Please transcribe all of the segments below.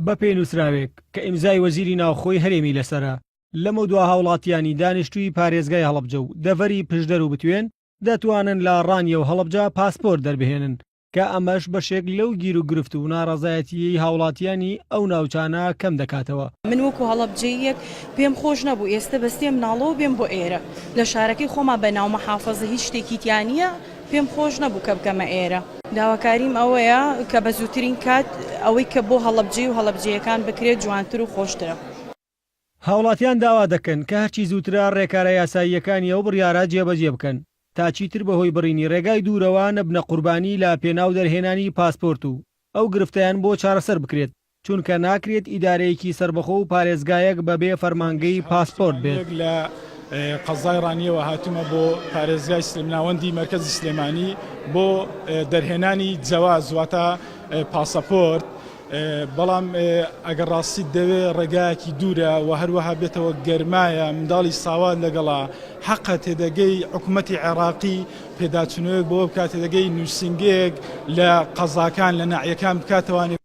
بەپێی نووسراوێک کە ئیمزای وەزیری ناوخۆی هەرێمی لەسەرە، لەمەودوا هاوڵاتییانی دانیشتووی پارێزگای هەڵەبجە و دەڤەری پشدەر و بتوێن دەتوانن لە ڕانیە و هەڵەبجە پاسپۆرت دەربهێنن کە ئەمەش بەشێک لەو گیروگرفت و ناڕەزایەتییەی هاوڵاتییانی ئەو ناوچانە کەم دەکاتەوە. من وەکو هەڵەبجەییەک پێم خۆش نەبوو ئێستە بە سێ مناڵەوە بێم بۆ ئێرە، لە شارەکەی خۆما بە ناو مەحافەزە هیچ شتێکی تیا نییە، پێم خۆش نەبوو کە بکەمە ئێرە. داواکاریم ئەوەیە کە بە زووترین کات ئەوەی کە بۆ هەڵەبجەی و هەڵەبجەیەکان بکرێت جوانتر و خۆشترە. هاوڵاتیان داوا دەکەن کە هەرچی زووترە ڕێکارە یاساییەکانی ئەو بڕیارە جێبەجێ بکەن تا چیتر بەهۆی بڕینی ڕێگای دوورەوە نەبنە قوربانی لە پێناو دەرهێنانی پاسپۆرت و ئەو گرفتەیان بۆ چارەسەر بکرێت. چونکە ناکرێت ئیدارەیەکی سەربەخۆ و پارێزگایەک بەبێ فەرمانگەی پاسپۆرت بێت. هەڤاڵ ساڵح ساڵح، هەڤاڵ ساڵح، لە قەزای ڕانیەوە هاتوومە بۆ پارێزگای سلێمناوەندی مەرکەزی سلێمانی بۆ دەرهێنانی جەواز واتە پاسەپۆرت، بەڵام ئەگەر ڕاستیت دەوێ ڕێگایەکی دوورە و هەروەها بێتەوە گەرمایە منداڵی ساوات لەگەڵا، حەقە تێدەگەی حکومەتی عێراقی پێداچونەوەیەک بەوە بکاتێدەگەی نوسینگەیەک لە قەزاکان لە ناحیەکان بکاتەوە.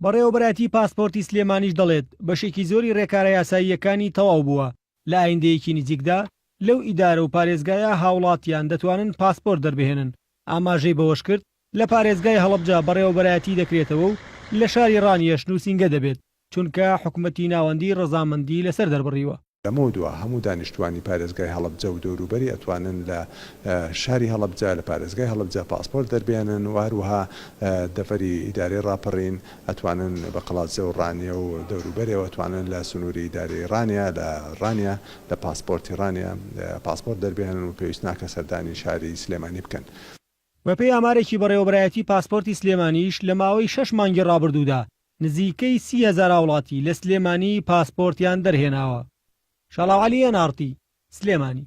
بەڕێوەبەرایەتی پاسپۆرتی سلێمانیش دەڵێت، بەشێکی زۆری رێکارە یاساییەکانی تەواو بووە، لە ئایندەیەکی نزیکدا لەو ئیدارە و پارێزگایە هاوڵاتیان دەتوانن پاسپۆرت دەربهێنن، ئاماژەی بەوەشکرد، لە پارێزگای هەڵەبجە بەڕێوەبەرایەتی دەکرێتەوە و لە شاری رانیەش نووسینگە دەبێت، چونکە حکومەتی ناوەندی رەزامەندی لەسەر دەربڕیوە. لەمەودوا هەموو دانیشتووانی پارێزگای هەڵەبجە و دەوروبەری ئەتوانن لە شاری هەڵەبجە لە پارێزگای هەڵەبجە پاسپۆرت دەربێنن و هەروەها دەڤەری ئیدارەی ڕاپەڕین ئەتوانن بە قەڵادزێ و ڕانیە و دەوروبەرێ و ئەتوانن لە سنووری ئیدارەی ڕانیە لە ڕانیە لە پاسپۆرتی ڕانیە پاسپۆرت دەربێنن و پێویست ناکە سەردانی شاری سلێمانی بکەن. بەپێی ئامارێکی بەڕێوەبەرایەتی پاسپۆرتی سلێمانیش لە ماوەی شەش مانگی ڕابردوودا نزیکەی سی هەزار هاوڵاتی لە سلێمانی پاسپۆرتیان دەرهێناوە. شاڵاوعەلی، ئێن ئاڕ تی، سلێمانی.